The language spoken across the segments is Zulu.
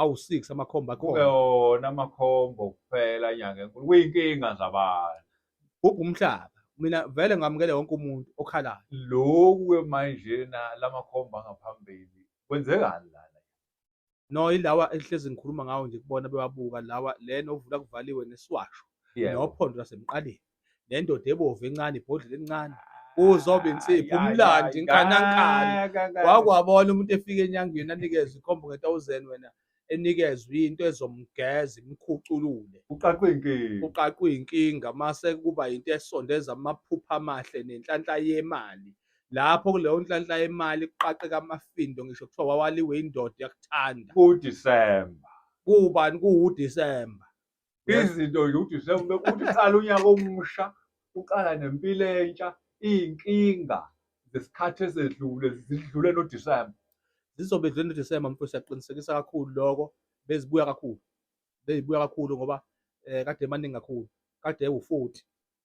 awu-six amakhombo akhona wona amakhombo kuphela inyanga enkulu kuyinkinga zabantu bhubha umhlaba mina vele ngamukele wonke umuntu okhalayo loku-ke manjena la makhombo angaphambili kwenzekani la no ilawa ehlezi ngikhuluma ngawo nje kubona bebabuka lawa lena ovula kuvaliwe nesiwasho nophondo lasemqaleni nendoda ebovu encane ibhodlela elincane uzobe insipho umlandi nkanankana wakwabona umuntu efika enyangweni anikezwe ikhombo nge-thousand wena enikezwe into ezomgeza imkhuculule uqaqwe inkinga uqaqwe inkinga mase kuba into esondeza amaphupha amahle nenhlanhla yemali lapho kuleyo nhlanhla yemali kuqaqeka amafindo ngisho kuthiwa wawaliwe indoda yakuthanda kudisemba kubani kuwudisemba izinto nje ukuthi sekuthi uqala unyaka omusha uqala nempilo entsha iy'nkinga zesikhathi esedlule zidlule nodisemba zizobe dlule nodisemba mfo siyaqinisekisa kakhulu lokho bezibuya kakhulu bezibuya kakhulu ngoba um kade emaningi kakhulu kade ewu-forty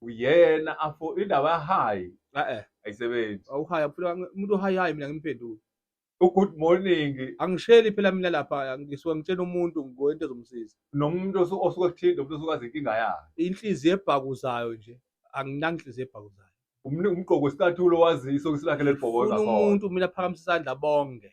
uyena afo indaba yahayi eh ayisebenzi awuhayi afuna umuntu ohayi hayi mina ngimphendule ugood morning angisheli phela mina lapha ngisuke ngitshela umuntu ngoyento ezomsiza nomuntu osuke kuthinta umuntu osuke azi inkinga yakhe inhliziyo ebhakuzayo nje anginanhliziyo ebhakuzayo umgqoko wesicathulo waziso kisilakhe lelibhoboza umuntu mina phakamisa isandla bonke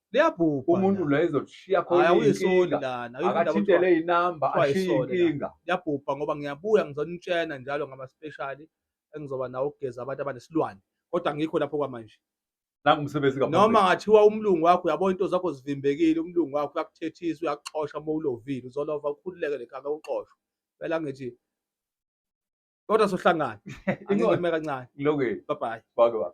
liyabhubha umuntu la ezokushiya Hhayi, khona awuyisoli iy'nkinga lana awuyifunda akathintele kuthiwa- inamba kuthiwa ashiye yisole la. inkinga liyabhubha ngoba ngiyabuya ngizonitshena njalo ngamaspeshali engizoba nawo ukugeza abantu abanesilwane kodwa ngikho lapho kwamanje nangumsebenzi noma kaphambili ngathiwa umlungu wakho uyabona into zakho zivimbekile umlungu wakho uyakuthethisa uyakuxosha uma ulovile uzolova ukhululeke lekhaka uxoshwe phela ngithi kodwa sohlangana Inqondo. angime kancane ngilokeni bye bye bake baba